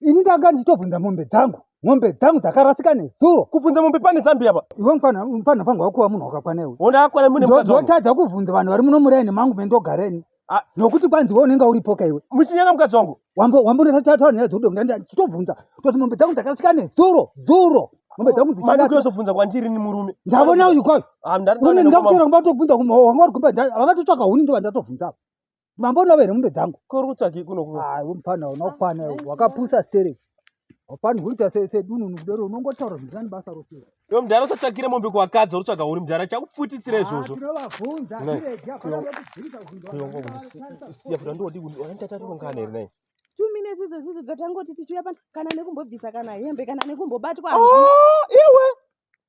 ini ndanga ndichitobvunza mombe dzangu mombe dzangu dzakarasika nezuro kubvunza mombe pane zambia pa iwe mfana mfana pangu wakuva munhu wakakwana iwe ona akwana mune mukadzi wangu ndotadza kubvunza vanhu vari muno muraini mangu mendogareni Ah. nokuti kwanzi we unenge uripoka iwe muchinyanga mukadzi wangu Wambo- wambonatataura nyaya dzokuti ndanga ndichitobvunza kuti mombe dzangu dzakarasika nezuro zuro mombe dzangu madiko dzichirasika yozobvunza kwandiri ni murume ndavona uyu kwayo Ah, ndari- une ndandakoma- ndakutera kumba tobvunza kumba wanga uri kumba nda- vakatotsvaka huni ndova ndatobvunza apa mambo unove here mombe dzangu kuri kutsvaki kunoku ah, mupana unokwana wakapusa stere hapani huita sedununu kudero unongotaura zvinhu zvani basa rose iwe mudhara usatsvakire mombe kuwakadzi uri tsvaga uri mudhara chakupfutisira ah, izvozvo ndodioaatationgana here nai two minutes idzo zidzo dzatangoti tichiuya pano kana nekumbobvisa kana hembe kana nekumbobatwa oh, iwe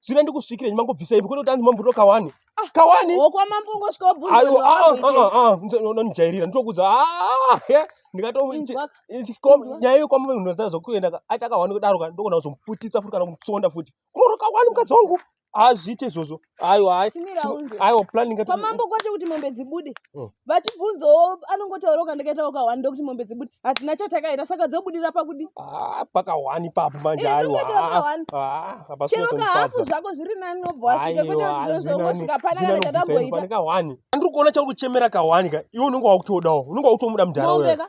zvine ndikusvikire nyima ngobvisa ipi kwete kuti mambuto kawani ah, kawani wokwamambo ngosvika wabvunzanonijairira nditokuudza ndikatonyaya iyo kwamambo munhu ataa zvokuenda aita kawani kudaro ka ndokona kuzomuputitsa futi kana kumutsonda futi kuroro kawani mukadzi wangu hazviite izvozvo aiwa aiwa planning pamambo kwacho kuti mombe dzibude oh. vachibvunzawo anongotaura ukandakaita wakawani ndokuti mombe dzibudi hatina chatakaita saka dzobudira pakudi ah, pakawani papo manje eh, aiwachero ah, kahafu zvako zviri nani nobva wasvika kwete kuti zvozongosvika panakaaamboita andiri kuona chauri kuchemera kahwani ka iwe unenge wakutodawo unenge wakutomuda mudhara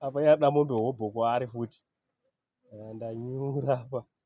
Apa yada mombe hobho kwaari futi. Ndanyura apa.